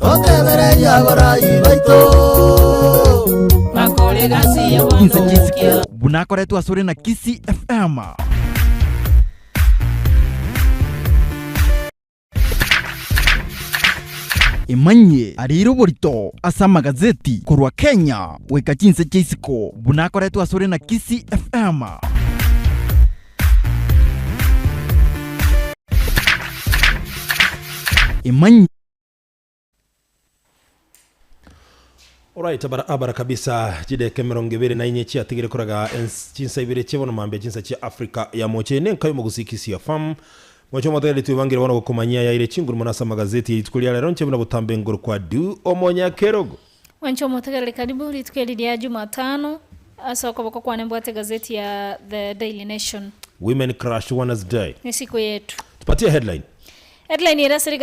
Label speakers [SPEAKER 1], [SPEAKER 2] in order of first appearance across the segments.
[SPEAKER 1] Totebereria abarai baito. Bakore egasi Inse y'oboonto chisiko
[SPEAKER 2] bw'ensikero. buna akoretwe asore
[SPEAKER 3] na Kisii FM. Imanyie arire oborito ase amagazeti korwa Kenya goika chinse chia isiko buna akoretwe asore na Kisii FM. Imany.
[SPEAKER 4] Oraite bara abara kabisa chideka emerongo ebere na inye chiatigire korega ense chinsa ibere chie bono mambia chinsa chia Africa ya moche inde nkai omogosikisia fam moche omotagete twebangire bono gokomanyia ayaire chinguru mono ase amagazeti ya rituko ria rero nche buna botambe nguru kwa du omonyakerogo Mwanche omotegereri
[SPEAKER 5] karibu rituko eri ria Jumatano, ase okoboko kwane mbwate egazeti ya The Daily Nation. Women Crush
[SPEAKER 4] Wednesday. Nesiku yetu.
[SPEAKER 5] Tupatie headline.
[SPEAKER 4] Headline ere
[SPEAKER 5] ase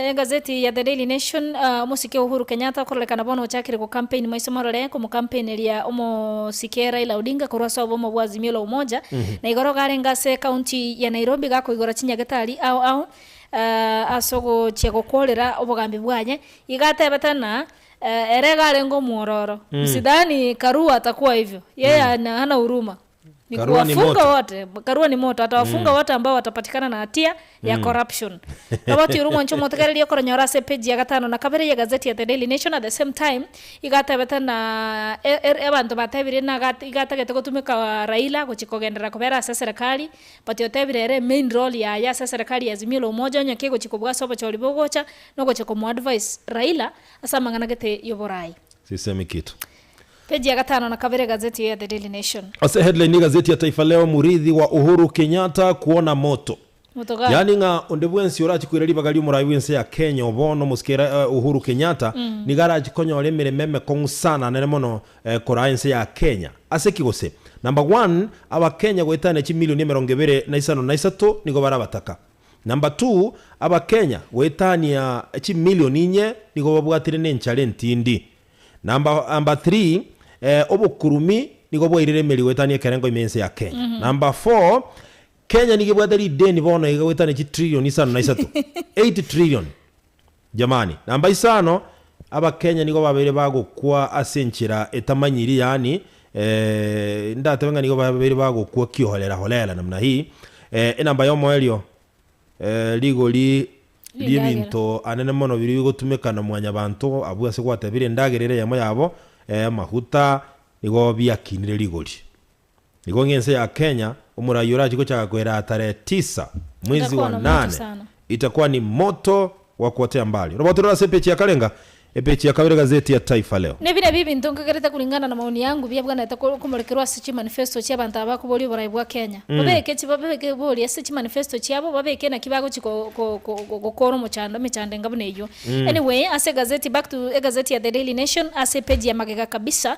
[SPEAKER 5] egazeti ya The Daily Nation, Omosike Uhuru Kenyatta okororekana bono ochakire gocampaign maiso morore komocampaigneria omosike Raila Odinga korwa ase obomo bwa Azimio la Umoja, na igoro iga arenge ase county ya Nairobi gakoigora chinyagete aria ao ao ase ogochia gokorera obogambi bwaye Igo atebete ng'a ere iga arenge omwororo. Sidhani Karua atakuwa hivyo. Yeye ana- hana huruma. Ni Karua ni kuwafunga moto. wote. Karua ni moto. Atawafunga wote ambao watapatikana na hatia ya corruption. Roboti oria omwancha omotegereria okoronyora ase epeji ya gatano na kabere y'egazeti ya The Daily Nation at the same time igo atebete ng'a e- e- abanto batebirie ng'a iga- iga atagete gotumeka Raila gochia kogenderera kobera ase eserekari but otebire ere main role yaye ase eserekari ya Azimio la Umoja onye kegochia kobua ase obochori bogocha Nogochia komo advise Raila ase amang'ana gete yoboraai. Sisemi kitu.
[SPEAKER 4] Page ya gatano
[SPEAKER 5] na kabere egazeti eye ya The Daily Nation. Ase headline y'egazeti
[SPEAKER 4] ya Taifa Leo, Muriithi wa Uhuru Kenyatta kwona moto. Moto gani? Yaani ng'a
[SPEAKER 5] onde bwensi
[SPEAKER 4] orachie koira ribaga ri'omoraai bw'ense ya Kenya obono, omosike ere Uhuru Kenyatta nigo arachie konyora emeremo emekong'u sana nene mono koraa ense ya Kenya. Ase ki gose? Number one, Abakenya goetania chimilioni emerongo ebere na isano na isato nigo bare abataka. Number two, abakenya goetania chimillion inye nigo babwatire nenchara entindi. Number number three, eh, obokurumi nigo bwairire emeri goetania ekerengo ime ense ya Kenya. Number four, Kenya nigo ebwate rideni bono iga goetania chitrillion isano na isato, eight trillion. Jamani, namba isano abakenya nigo babeire bagokwa ase enchera etamanyiri yaani eeh ndatebe ng'a nigo babeire bagokwa kiholera holera namna hii eeh enamba ya omoerio eeh rigori Rindagera. riebinto anene mono biria bigotumeka na mwanyabanto abwo ase gwatebire endagera ere eyemo yabo eeh amaguta nigo biakinire rigori. Nigo ng'ense ya Kenya omoraai orache gochaka koeraa tarehe tisa mwezi wa Itakuwa moto nane sana. itakuwa ni moto wa kuotea mbali. Roboto rore ase epechi ya karenga, epechi ya kabere gazeti ya Taifa Leo. Nebi nabio ebinto nkagerete
[SPEAKER 5] korengana na maoni yangu biabwanete ko- okomorekerwa ase chimanifesto chia abanto aba bakoboria oboraai bwa Kenya. Babeke chi babeke bori ase chimanifesto chiabo, babeke naki bagochi ko- ko- ko- ko- gokora omochando, emechando enga buna eywo. Anyway, ase egazeti back to egazeti ya The Daily Nation ase epeji ya magega kabisa,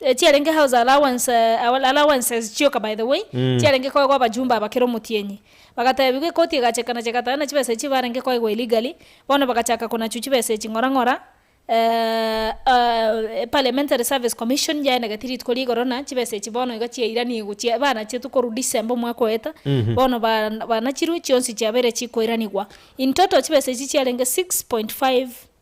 [SPEAKER 5] Echiarenge house allowance all allowances chioka by the way, Mm. chiarenge koegwa abajumbe aba kera omotienyi. Bagatebigwa ekoti egacheka na chegatana chibesa echio barenge koegwa illegally, bono bagachaka konachu chibesa echi ng'ora ng'ora, eh, ah, Parliamentary Service Commission yaenegeti rituko ria igoro na chibesa echi bono iga chiairaniigw chia banachetwe korwa December omwaka oyeta, Mhm. bono ba banachirwe chionsi chiabeire chikoiranigwa. In total chibesa echi chiarenge 6.5.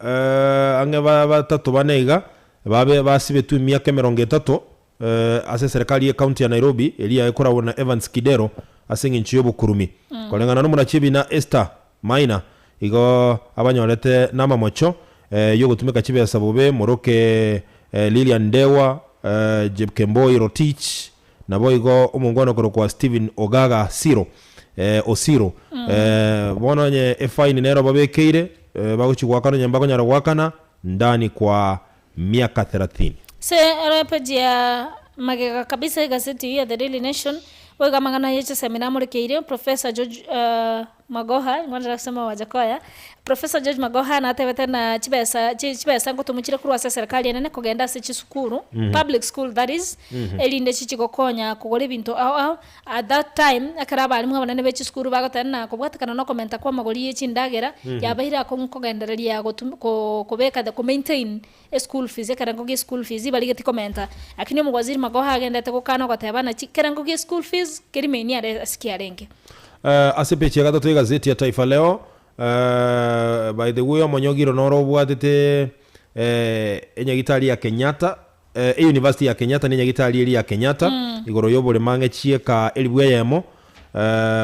[SPEAKER 4] ang'e batato bane iga babe basibetwe emiaka emerongo etato ase eserekari y'Ekaunti ya Nairobi eria ekoragwa na Evans Kidero ase eng'encho y'obokurumi. Koreng'ana n'omorachi Ebina Esther Maina, igo abanyorete namamocho y'ogotumeka chibesa bobe moroke Lilian Ndegwa, Jepkemboi Rotich, Naboigo omongwana okorokwa Stephen Ogaga Siro, eh, Osiro, eh, bono onye efaini nero obabekeire, eh, bagochia goakana onye mbakonyara goakana, ndani kwa miaka therathini. Ase epeji
[SPEAKER 5] ya magega kabisa y'egaseti eyio ya The Daily Nation, boigo amang'ana ye chisemi namorekeire Professor George, eh, Magoha, ing'wanera ase amao aye koya. Professor George Magoha natebete ng'a chibesa, chi, chibesa ngotomochire korwa ase eserekari enene kogenda ase chisukuru, public school that is, erinde chichie gokonya kogora ebinto ao ao. At that time, ekero abalimu abanene be chisukuru bagoteba ng'a kobwatekana na okomenta kw'amagori ye chindagera, yabeire akong'u kogendereria gotum, ko, kobeka the, ko maintain Eschool fees, ekerengo gie school fees ibarigeti komenta, lakini omogwaziri Magoha agendete gokana ogoteba nachi ekerengo gie school fees kerimeini are ase kiarenge. Ase page
[SPEAKER 4] ya gatato y'egaseti ya Taifa Leo, By the way, omonyogiro noro obwatete enyagitari ya Kenyatta, euniversity ya Kenyatta na enyagitari eria ya Kenyatta igoro y'oboremo ang'e chieka elifu eyemo.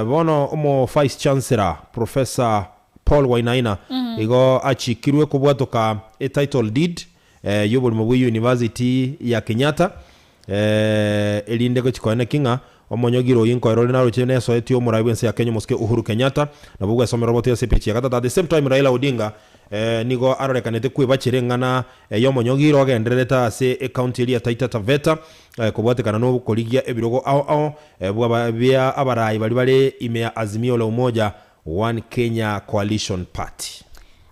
[SPEAKER 4] Bono omo vice chancellor, Professor. Paul Wainaina igo achikirwe kobwatoka e title deed y'oborimo bwe University ya Kenyatta erinde gochi koeneki ng'a omonyogire oyio nkoera ore naroche nesoeti y'omorai bw'ense ya Kenya omosike Uhuru Kenyatta nabo gwesomera oboto ase epechi ya gatato at the same time Raila Odinga nigo arorekanete kwebachera eng'ana y'omonyogire ogendererete ase ecounty eria ya Taita Taveta kobwatekana nokorigia ebirogo ao ao bia abaraai baria bare ime ya Azimio la Umoja One Kenya Coalition Party.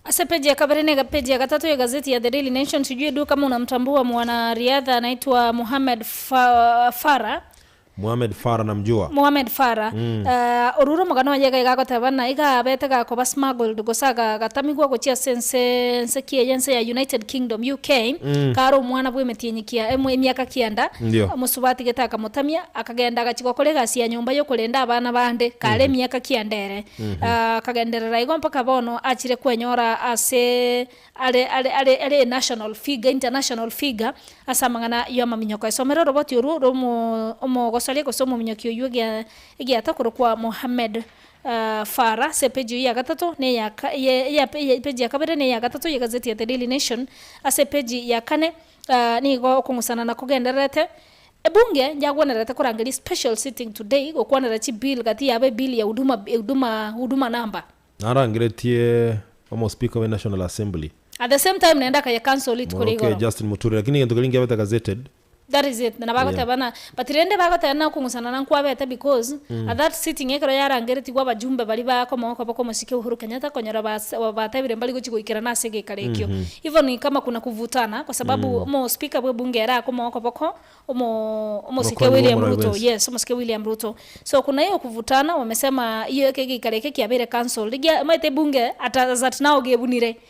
[SPEAKER 4] Ase page ya
[SPEAKER 5] kabere na egapeji ya gatato ye gazeti ya The Daily Nation, sijui du kama unamtambua mwana riadha anaitwa Mohamed Farah. Mohamed Farah namjua. Mohamed Farah. Aah orure omogano oye iga iga agoteba ng'a iga abete gakoba smuggled gose agatamigwa gochia ase ense ense ki eye ense ya United Kingdom, UK, kare omwana bw'emetienyi kia emiaka kianda, Ndio. omosubati gete akamotamia. Akagenda agachia gokora egasi ya nyomba y'okorenda abana bande kare emiaka kianda ere. Akagenderera igo mpaka bono achire kwenyora ase are are are are a national figure, international figure ase amang'ana y'amaminyoko. Esomere oroboti orwo rw'omo omogosoria gose omominyoki oyio egia egiata okorokwa Mohammed Farah ase epeji eyio ya gatato na eya ka eye eya epeji ya kabere na eya gatato y'egazeti ya The Daily Nation. Ase epeji ya kane Aa nigo okong'usana na kogendererete. Ebunge yagwenerete korangeria special sitting today gokwanera chi bill gati yabo ebill ya huduma huduma huduma number. Narangeretie
[SPEAKER 4] Omospika we National Assembly. At the same time naende
[SPEAKER 5] akaya council rituko ria Moroke igoro. Justin Muturi lakini egento
[SPEAKER 4] keria nkebete gazetted. That is it, nabo Yeah.
[SPEAKER 5] agoteba buna. But rende bagoteba na okong'usana na nkwabete because at that sitting ekero yarangeretigwe abajumbe baria ba komoka boka omosike Uhuru Kenyatta konyora base batebire mbari gochi goikerana ase egekaro ekio even kama kuna kuvutana kwa sababu omo speaker bwe bunge ere akomoka boka omo omosike Omokoni William bw'omorwoi Ruto bwensi. yes omosike William Ruto so kuna iyo kuvutana wamesema iyo eke egekaro eke kiabeire cancelled gia omanyete ebunge at as at now gebunire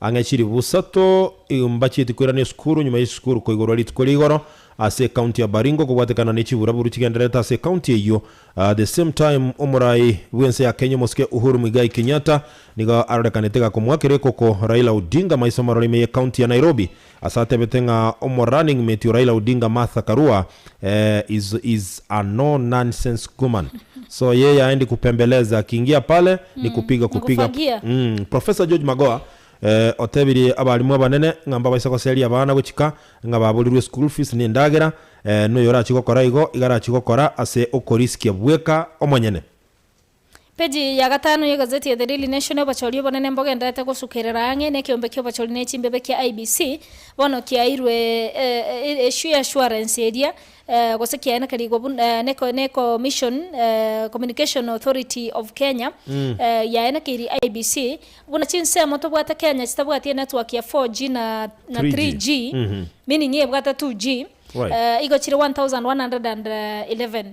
[SPEAKER 4] Ang'e chiri busato igo mbachieti koirania esukuru, nyuma y'esukuru koigorwa rituko ria igoro ase ecounty ya Baringo kobwatekana ne chiburaburu chigendererete ase ecounty eyio. At the same time omorai bw'ense ya Kenya omosike Uhuru Muigai Kenyatta nigo arorekanete gakomoakera ekoko Raila Odinga maiso amarore ime y'ecounty ya Nairobi. Ase atebete ng'a omo running mate o Raila Odinga Martha Karua eeh is is a no nonsense guman so yeye aendi kupembeleza akiingia pale ni kupiga kupiga Nikufagia. mm Professor George Magoha eeh otebirie abalimu abanene ng'a mbabaise goseria abana gochika ng'a baborirwe school fees ne endagera eeh noyo orachie gokora igo iga arachie gokora ase okoriskia bweka omonyene. Peji
[SPEAKER 5] ya gatano y'egazeti ya The Daily Nation, Obochori obonene mbogenderete gosukerera ang'e nekeombe ki'obochori ne chimbebe kia IEBC bono kiairwe eassurance eria gose kiaenekerigwe buna ne Commission Communication Authority of Kenya yaenekeirie IEBC buna chinsemo tobwate Kenya chitabwati enetwork ya 4G na 3G meaning ebwate 2G igo chire 1111.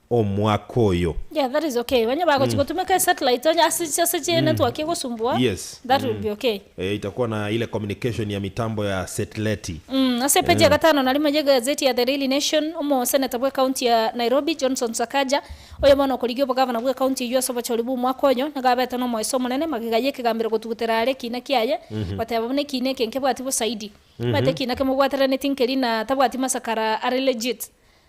[SPEAKER 4] omwaka oyo. Yeah that is okay
[SPEAKER 5] banye bagochi gotumeka esatellite onye ase ase ase chi network egosumbua Yes. that will be
[SPEAKER 4] okay.
[SPEAKER 5] Eh, itakuwa na ile
[SPEAKER 4] communication ya mitambo ya setleti. Umm ase page ya
[SPEAKER 5] gatano na rimo y'egazeti ya The Daily Nation, omoseneta bw'ekaunti ya Nairobi, Johnson Sakaja, oyo bono okorigia obogavana bw'ekaunti eyio ase obochori bw'omwaka oyo, nigo abete n'omoeso omonene magega y'ekegambero gotugutera are ekiina kiaye, goteba buna ekiina eke nkebwati bosaidi. Omanyete ekiina kemobwateraneti nkeri na tabwati masakara are legit.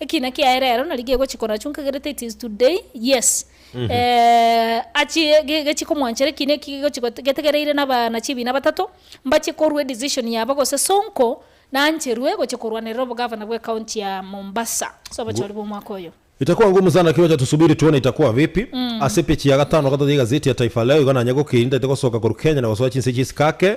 [SPEAKER 5] Ekiina kiaye rero nari gegochi konachu nkagerete it is today yes eh achie ge gechie komwanchera ekiina eki gegochi gote getegereire naba na chibiina batato mbachie korwa edecision yabo gose sonko nancherwe gochia korwanerera obogavana bwe county ya Mombasa ase obochori bwa omwaka oyo. Itakuwa nguu mzana
[SPEAKER 4] kiwacha tusubiri tuone itakuwa vipi Ase page ya gatano gatoto ya egazeti ya Taifa Leo igo nanye gokiri ntaete gosoka korwa Kenya na gosoa chinse chi'sikake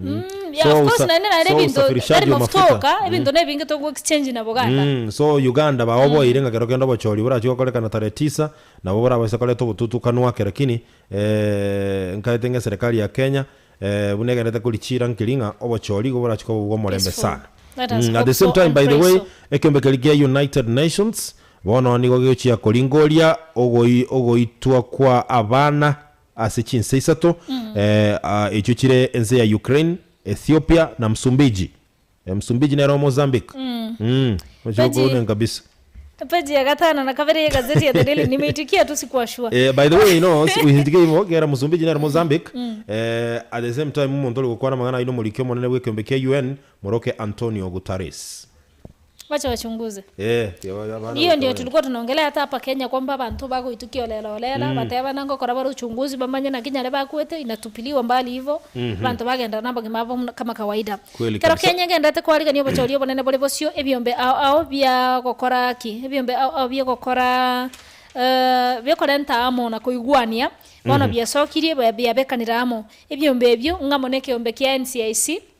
[SPEAKER 4] Mm, yeah,
[SPEAKER 5] So of course, usa- naende nare so ebinto usafirishaji tari wa mafuta mafuta. oka ebinto ne ebinge toku exchange na boganda Mm, so uganda
[SPEAKER 4] baoboire ng'a kero kende obochori borachie gokorekana tarehe tisa nabo borabase koreta obotutukanu ake lakini eh, nkaete ng'a eserekari ya kenya eh, buna egenderete korichiira nkeri ng'a obochori igo borachie koba bw'omorembe Peaceful. sana Let us Mm, at hope the same so time and by the pray way so. ekeombe keria kia united nations bono nigo gegochia koringoria ogoi- ogoitwa kwa abana ase chinse isato echio chire ense ya Ukraine, Ethiopia na Msumbiji. Msumbiji nere o Mozambique. Ochia okounenka kabisa. Page ya
[SPEAKER 5] gatano na kabere ye egazeti ya The Daily Nime itwe ki atusi kwashua. By the way no
[SPEAKER 4] oisitike igo kera Msumbiji nere Mozambique at the same time omonto ore gokwana amang'ana ayio nomoriki omonene bw'ekeombe kia UN moroke Antonio Guterres. Wacha
[SPEAKER 5] wachunguze. Ee, tiga babe abana Rirorio goita tiri baito. korinongereria ata apa Kenya kwamba abanto bagoitukia orera orera, batebana ngokora bare uchunguzi bamanye naki nyare bakwete inatupiliwa mbali hivo, abanto bagenda na obogima abo buna kama kawaida. Kweli Ekero kabisa. Kenya egendete kwarigania obochori obonene bore bosio, ebiombe ao ao bia gokora ki? Ebiombe ao ao bia gokora eh, bia okorenta amo na koigwania, bono biasokirie ba- biabekanire amo. Ebiombe ebio ng'amo na ekeombe kia NCIC,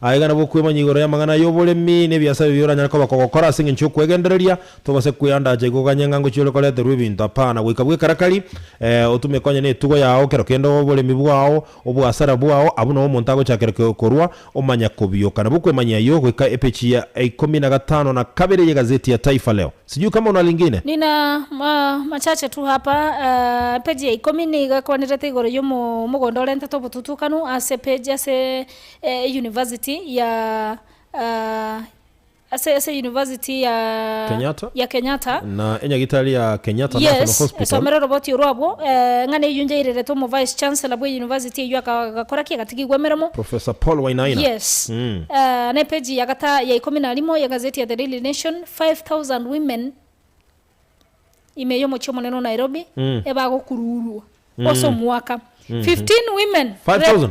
[SPEAKER 4] Aya iga nabwo okwemanya igoro y'amang'ana y'oboremi na ebiasae biria oranyare koba kogokora ase engencho y'okwegendereria. Togose kweandacha iga oganye ng'a ngochia ore koreterwa ebinto, apana, goika bw'ekarakari. Ee, otume konye netugo yao, kero kende oboremi bwao, oboasara bwao, abwo nao omonto agochakera korwa omanya kobioka. Nabwo okwemanya ayio goika epechi ya ikomi na gatano na kabere y'egazeti ya Taifa Leo. Sijui kama una lingine? Nina ma,
[SPEAKER 5] machache tu hapa. Aa, epeji ya ikomi nigo ekwanirete igoro y'omo, omogondo orentete obotutukanu ase epeji, ase E university ya ase ase university ya Kenyatta ya Kenyatta na enyagitari ya
[SPEAKER 4] Kenyatta National yes Hospital. esomere oroboti oro abwo
[SPEAKER 5] eh, ng'ana eyio nyairerete omo vice chancellor bwe university eyio aka- agakora ki agatigigwa emeremo Professor Paul Wainaina.
[SPEAKER 4] yes Mm.
[SPEAKER 5] eh, na epeji ya gata ya ikomi na rimo ya egazeti ya the daily nation 5000 women ime y'omochie omonene o Nairobi Mm. ebagokuruurwa ase omwaka 15 women
[SPEAKER 4] 5,000.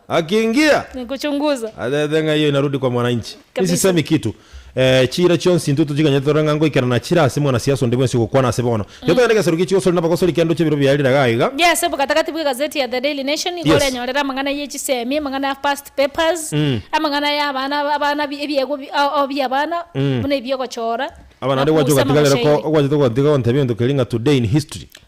[SPEAKER 5] Akingia, atebete ng'a eyo inarudi
[SPEAKER 4] kwa mwananchi. Nisisemi kitu. Ee, chiira chionsi intwe tochiganyete tore ng'a ngoikera nachire ase mwanasiasa onde bwensi ogokwana ase bono. Tiga togende egesero gie chigosori na abagosori kende oche ebiro bia rire iga iga. Gie ase obogatagati bwe
[SPEAKER 5] egazeti ya The Daily Nation nigo Yes. orenyorere amang'ana ye chisemi, amang'ana ya past papers, amang'ana ya abana abana bi- ebiegwa bi- ao ao bia abana buna ebiogochora, Abana ande gwacha nakuusa
[SPEAKER 4] ogatigarera ko amagoshairi. ogwachete gotiga gontebia egento keria ng'a today in history.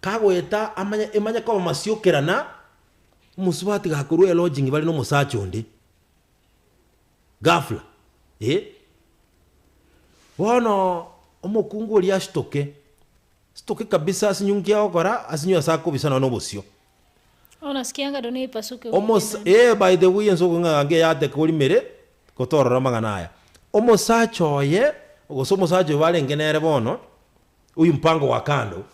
[SPEAKER 4] Kagoeta amanye emanye koba masiokera na omosubati gakorwa elodging bare nomosacha onde ghafla eh. Bono omokungu oria asitoke, asitoke kabisa asinywe nki agokora asinywe ase akobisa nonye nobosio. Bono ase
[SPEAKER 5] kianga rirorio naipasuke goika Omosa enani. eh by the
[SPEAKER 4] way ense okong'a ng'a ngeyateka orimere gotorora amang'ana aya. Omosacha oye gose omosacha oyo barenge nere bono Oyio mpango wa kando,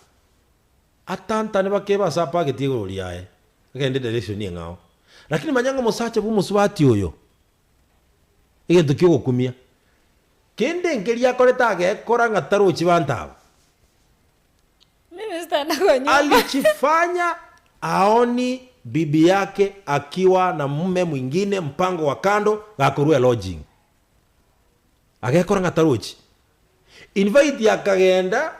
[SPEAKER 4] atantane bakebe ase apageti igoro riaye, agende direction eng'ao. Lakini manya ng'a omosacha bw'omosubati oyo, egento ki'ogokumia, kende enkeria akorete agekora ng'a tarochi banto aba.
[SPEAKER 5] Minister na kwa nyumba. Alichifanya
[SPEAKER 4] aoni bibi yake akiwa na mume mwingine, mpango wa kando, gakorua elodging. Agekora ng'a tarochi. Invite akagenda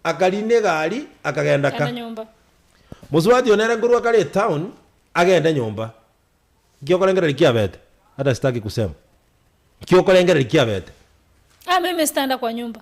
[SPEAKER 4] akarina egari akagenda ka. Kenda nyomba.
[SPEAKER 5] Mosubati oo
[SPEAKER 4] nere nkorwa kare etown agende nyomba. Nki okorengereria kiabete? Hata sitaki kusema. Nki okorengereria kiabete? Ah mimi
[SPEAKER 5] sitaenda kwa nyumba.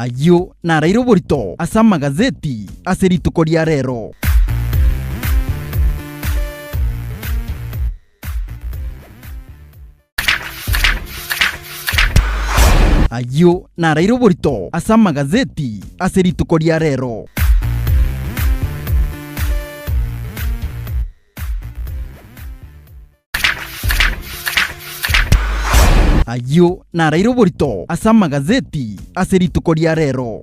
[SPEAKER 3] Ayio naraire oborito ase amagazeti ase rituko ria rero. Ayio naraire oborito ase amagazeti ase rituko ria rero. Ayio naraire oborito ase amagazeti ase rituko ria rero.